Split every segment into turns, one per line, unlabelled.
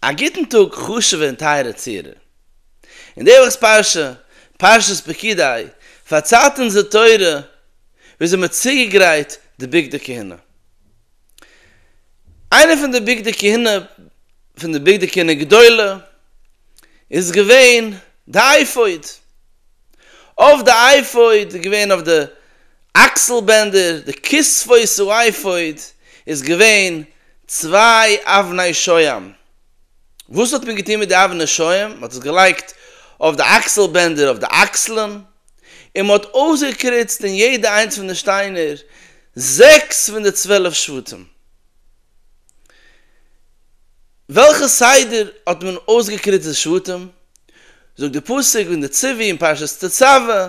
א גוטן טאג חשוב'ע און טייערע צוהערער. אין די וואכ'ס פרשה, פרשת פקודי, פארציילט אונז די תורה וויאזוי מ'האט צוגעגרייט די בגדי כהונה. איינע פון די בגדי כהונה פון די בגדי כהונה גדולה איז געווען די אייפאוד. אויף די אייפאוד איז געווען אויף די. אקסל בענדער, די כספות צו אייפאוד איז געווען צוויי אבני שוים. וואס האט מען געטון מיט די אבני שוים? מען האט עס געלייגט אויף די אקסל בענדער אויף די אקסלען, און מען האט אויסגעקריצט אין יעדע איינס פון די שטיינער זעקס פון די צוועלף שבטים. וועלכע סדר האט מען אויסגעקריצט די שבטים? זאגט די פסוק אין די צווים פרשת תצוה.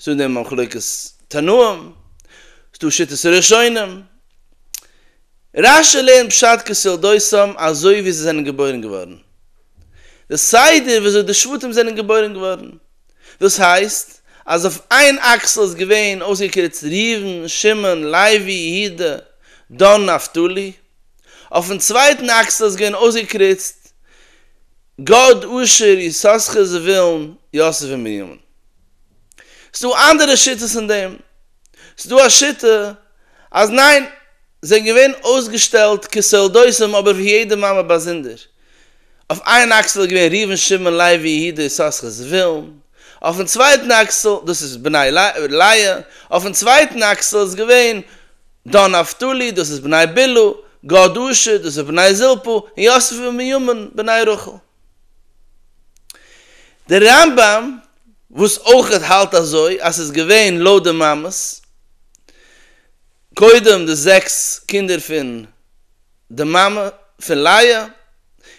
ס'דא דער מחלוקת תנאים, ס'דא שיטת הראשונים, רש י לערנט פשט כסולדותם אזוי ווי זיי זענען געבוירן געווארן, די סדר ווי אזוי די שבטים זענען געבוירן געווארן, דאס הייסט אז אויף איין אקסל איז געווען אויסגעקריצט ראובן, שמעון, לוי, יהודה, דן, נפתלי, אויפן צווייטן אקסל איז געווען אויסגעקריצט גד, אשר, יששכר, זבולון, יוסף און בנימין. ס'דא אנדערע שיטות אין דעם, ס'דא א שיטה אז ניין, זיי זענען געווען אויסגעשטעלט כסולדותם אבער פון יעדע מאמע באזונדער, אויף איין אקסל איז געווען ראובן שמעון לוי יהודה יששכר זבולון, אויפן צווייטן אקסל, דאס איז בני לאה, אויפן צווייטן אקסל איז געווען דן נפתלי, דאס איז בני בלהה, גד אשר, דאס איז בני זלפה, און יוסף ובנימין, בני רחל. דער רמב ם וואס אויכעט האלט אזוי אז ס'איז געווען לויט די מאמעס קודם די זעקס קינדער פון די מאמע פון לאה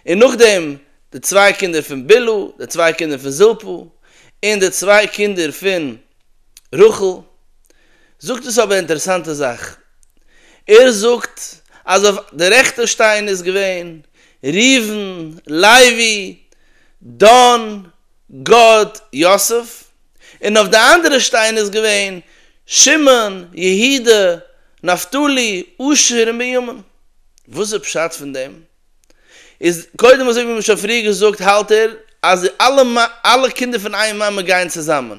און נאכדעם די צוויי קינדער פון בלהה די צוויי קינדער פון זלפה און די צוויי קינדער פון רחל זאגט עס אבער א אינטערעסאנטע זאך ער זאגט אז אויף די רעכטע שטיין איז געווען ראובן, לוי, דן, גד, יוסף, און אויף די אנדערע שטיין איז געווען, שמעון, יהודה, נפתלי, אשר און בנימין. וואס איז פשט פון דעם? איז קודם אזוי ווי מ'האט שוין פריער געזאגט האלט ער אז די אלע אלע קינדער פון איין מאמע גייען צוזאמען.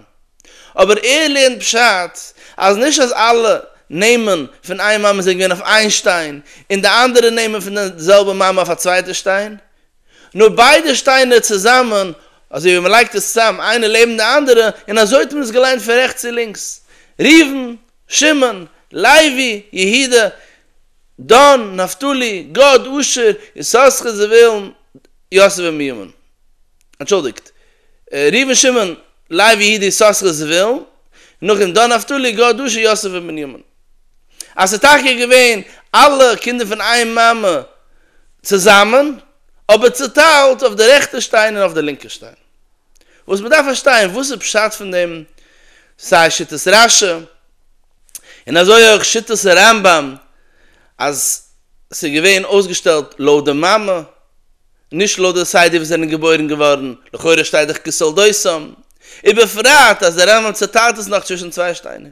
אבער ער לערנט פשט אז נישט אז אלע נעמען פון איין מאמע זענען געווען אויף איין שטיין און די אנדערע נעמען פון די זעלבע מאמע אויף א צווייטע שטיין, נאר ביידע שטיינער צוזאמען, אזוי ווי מ'לייגט עס צוזאם איינע לעבן די אנדערע, און אזוי האט מען עס געליינט פון רעכטס צו לינקס, ראובן, שמעון, לוי, יהודה, דן, נפתלי, גד, אשר, יששכר, זבולון, יוסף און בנימין. אנטשולדיגט, ראובן שמעון לוי יהודה יששכר זבולון נחום דן נפתלי גד אשר יוסף און בנימין. אז ס'איז טאקע געווען אלע קינדער פון איין מאמע צוזאמען, אבער צוטיילט אויף די רעכטע שטיין און אויף די לינקע שטיין. וואס מ'דארף פארשטיין, וואס איז פשט פון דעם, סיי שיטת רשי און אזוי אויך שיטת הרמב ם אז ס'איז געווען אויסגעשטעלט לויט די מאמע, נישט לויט די סדר ווי זיי זענען געבוירן געווארן, לכאורה שטייט דאך כתולדותם, ובפרט אז דער רמב ם צעטיילט עס נאך צווישן צוויי שטיינער.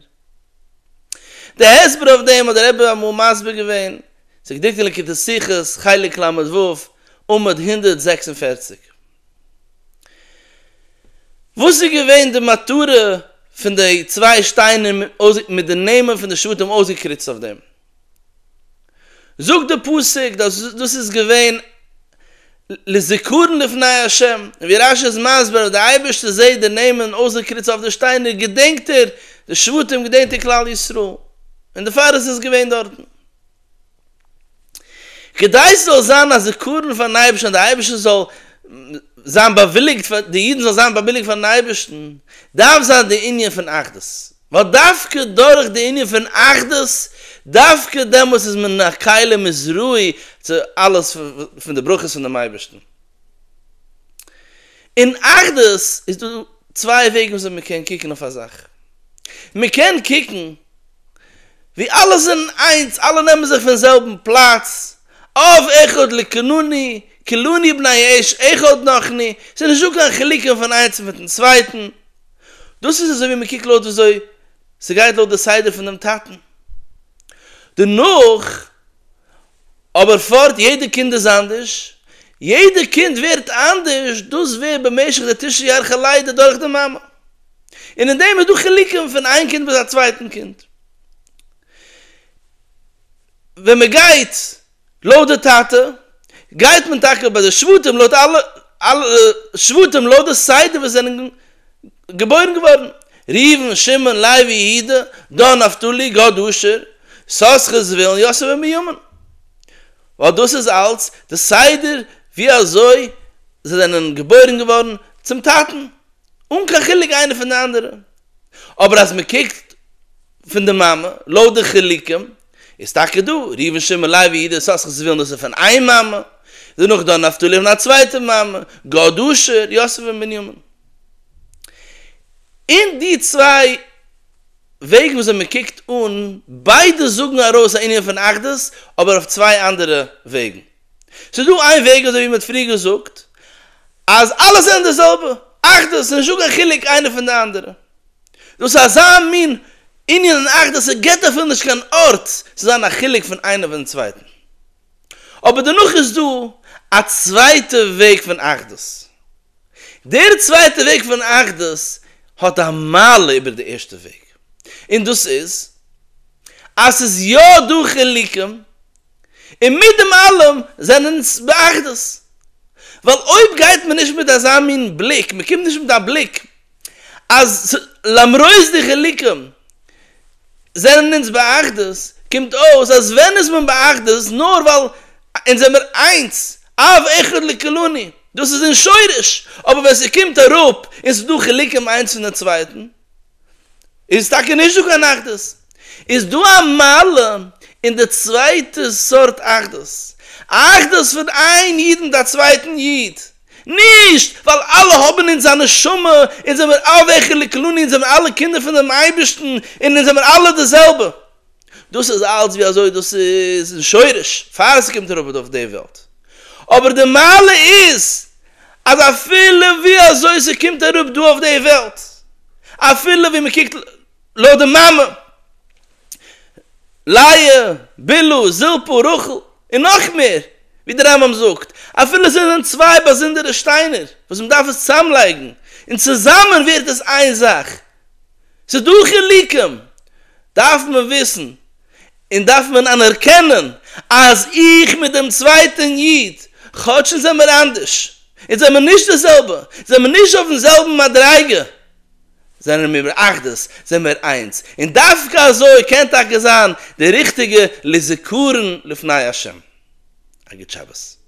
די הסבר אויף דעם האט דער רבי אמאל מסביר געווען, ס'איז געדרוקט אין ליקוטי שיחות, חלק ל ו, עמוד הונדערט זעקס און פֿערציק. וואס איז געווען די מטרה פון די צוויי שטיינער מיט די נעמען פון די שבטים אויסגעקריצט אויף דעם? זאגט די פסוק דאס דאס איז געווען לזכרון לפני ה', און ווי רש י איז מסביר אז די אייבערשטער זעהט די נעמען אויסגעקריצט אויף די שטיינער געדענקט ער די שבטים געדענקט ער כלל ישראל און דערפאר איז עס געווען דארטן כדי ס'זאל זיין א זכרון פארן אייבערשטן אז די אייבערשטער זאל זיין באוויליגט פאר די אידן זאל זיין באוויליגט פארן אייבערשטן דארף זיין די ענין פון אחדות ווייל דווקא דורך די ענין פון אחדות, דווקא דעמאלס איז מען א כלי מזרועי צו אלעס פון די ברכות פונעם אייבערשטן. אין אחדות איז דא צוויי וועגן וויאזוי מען קען קוקן אויף א זאך. מען קען קוקן ווי אלע זענען איינס, אלע נעמען זיך פון זעלבן פלאץ, אב אחד לקנני, כלוני בני האש אחד נחני, ס'איז נישטא קיין חילוקים פון איינס מיטן צווייטן, דאס איז אזוי ווי מען קוקט לויט וויאזוי ס'גייט לויט די סדר פון דעם טאטן. דערנאך אבער פארט יעדע קינד איז אנדערש, יעדע קינד ווערט אנדערש, דאס ווערט במשך די תשעה ירחי לידה דורך די מאמע, און אין דעם איז דא חילוקים פון איין קינד ביז א צווייטן קינד. ווען מען גייט. לויט די טאטע גייט מען טאקע ביי די שבטים לויט אלע אלע שבטים לויט די סדר ווי זיי זענען געבוירן געווארן, ראובן, שמעון, לוי, יהודה, דן, נפתלי, גד, אשר, יששכר, זבולון, יוסף און בנימין, ווייל דאס איז אלץ די סדר ווי אזוי זיי זענען געבוירן געווארן צום טאטן, אן קיין חילוק איינער פון די אנדערע, אבער אז מען קוקט פון די מאמע לויט די חילוקים איז טאקע דא, ראובן שמעון לוי יהודה יששכר זבולון דאס איז פון איין מאמע, דערנאך דן נפתלי פון א צווייטע מאמע, גד אשר, יוסף און בנימין. אין די צוויי וועגן וואס מען קוקט אן, ביידע זאגן ארויס א ענין פון אחדות, אבער אויף צוויי אנדערע וועגן. ס'איז דא איין וועג אזוי ווי מען האט פריער געזאגט, אז אלעס זענען די זעלבע, אחדות, ס'איז נישטא קיין חילוק איינע פון די אנדערע. דאס איז אזא מין ענין און אכט אז ס'געט אפילו נישט קיין ארט צו זיין א חילוק פון איינער פון דעם צווייטן. אבער דערנאך איז דא א צווייטע וועג פון אחדות. דער צווייטע וועג פון אחדות האט א מעלה איבער די ערשטע וועג, און דאס איז אז ס'איז יא דא חילוקים און מיט דעם אלעם זענען אונז באחדות, ווייל אויב גייט מען נישט מיט אזא מין בליק, מען קומט נישט מיט א בליק אז למרות די חילוקים זענען אונז באחדות, קומט אויס אז ווען איז מען באחדות נאר ווייל אונז זעמער איינס, אב אחד לקלוני, דאס איז אין שורש, אבער ווען ס'קומט אראפ און ס'דא חילוקים איינס פון די צווייטן, איז טאקע נישט דא קיין אחדות. איז דא א מעלה אין די צווייטע סארט אחדות, אחדות פון איין איד מיט א צווייטן איד, נישט ווייל אלע האבן אונז א נשמה, אונז זעמיר אלע אחד לכלני, אונז זעמיר אלע קינדער פונעם אייבערשטן, און אונז זעמיר אלע די זעלבע. דאס איז אלץ ווי אזוי דאס איז אין שורש פאר ס'קומט אראפ אויף די וועלט, אבער די מעלה איז אז אפילו ווי אזוי ס'קומט אראפ דא אויף די וועלט, אפילו ווי מ'קוקט לויט די מאמע, לאה, בלהה, זלפה, רחל, און נאך מער, ווי די רמב ם זאגט, אפילו זיי זענען צוויי באזונדערע שטיינער וואס מ'דארף עס צוזאמלייגן, און צוזאמען ווערט עס איין זאך. ס'איז דא חילוקים, דארף מען וויסן און דארף מען אנערקענען אז איך מיט דעם צווייטען איד, כאטש אונז זעמער אנדערש, אונז זעמער נישט די זעלבע, זעמער נישט אויפן זעלבן מדריגה, זענען מיר באחדות, זעמער איינס, און דווקא אזוי קען טאקע זיין די ריכטיגע לזכרון לפני השם. א גוט שבת.